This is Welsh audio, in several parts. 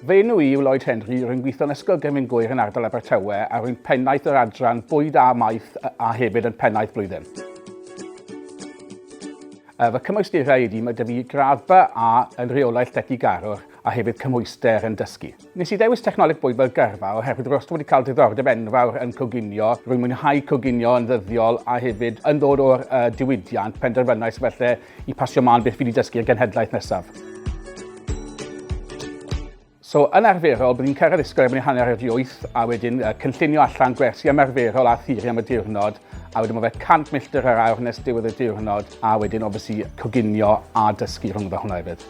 Fy enw i yw Lloyd Henry, rwy'n gweithio yn Ysgol Gefn Gŵyr yn ardal Abertawe a rwy'n pennaeth yr adran bwyd a maeth a hefyd yn pennaeth blwyddyn. Fy cymwysterau ydy, mae dyfu gradd ba A yn rheolaeth llety garwr a hefyd cymhwyster yn dysgu. Nes i ddewis technoleg bwyd fel gyrfa oherwydd rwy'n wedi cael diddordeb enfawr yn coginio, rwy'n mwynhau coginio yn ddyddiol a hefyd yn ddod o'r uh, diwydiant, penderfynais felly i pasio mân beth fi wedi dysgu y genhedlaeth nesaf. So, yn arferol, bydd ni'n cyrraedd ysgol erbyn hanner wedi wyth a wedyn uh, cynllunio allan gwersi ymarferol a thiri am y diwrnod. a wedyn mae fe 100 milltir yr awr nes diwedd y diwrnod, a wedyn obviously coginio a dysgu rhwngddo hwnna hefyd.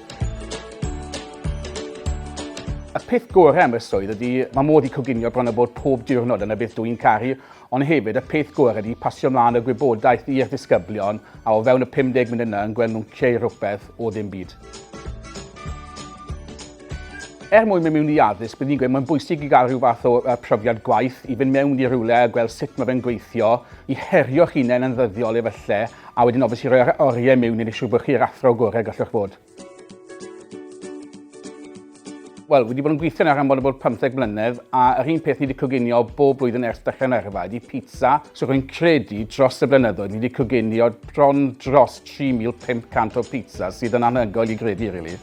Y peth gorau am y swydd ydy, mae modd i coginio bron a bod pob diwrnod yn y beth dw i'n caru, ond hefyd y peth gorau ydy pasio mlaen y gwybodaeth i'r disgyblion a o fewn y 50 munud yna yn gweld nhw'n creu rhywbeth o ddim byd. Er mwyn mynd mewn i addysg, bydd ni'n gweud mae'n bwysig i gael rhyw fath o uh, profiad gwaith, i fynd mewn i rywle a gweld sut mae fe'n gweithio, i herio'ch hunain yn ddyddiol efallai, a wedyn obviously i roi'r oriau mewn i wneud siŵr bod chi'r athro gorau gallwch fod. Wel, wedi bod yn gweithio nawr am bod yn bod 15 mlynedd, a yr un peth ni wedi coginio bob blwyddyn ers dechrau yn yrfa ydy pizza. So rwy'n credu dros y blynyddoedd ni wedi coginio bron dros 3,500 o pizza sydd yn anhygoel i gredu, really.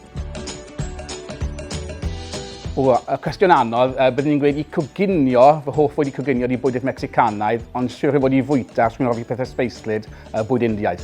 O, y cwestiwn anodd, uh, byddwn i'n gweud i coginio, fy hoff wedi coginio i bwydydd Mexicanaidd, ond siwr i fod i fwyta, os dwi'n hoffi pethau sbeislyd, uh, bwyd Indiaidd.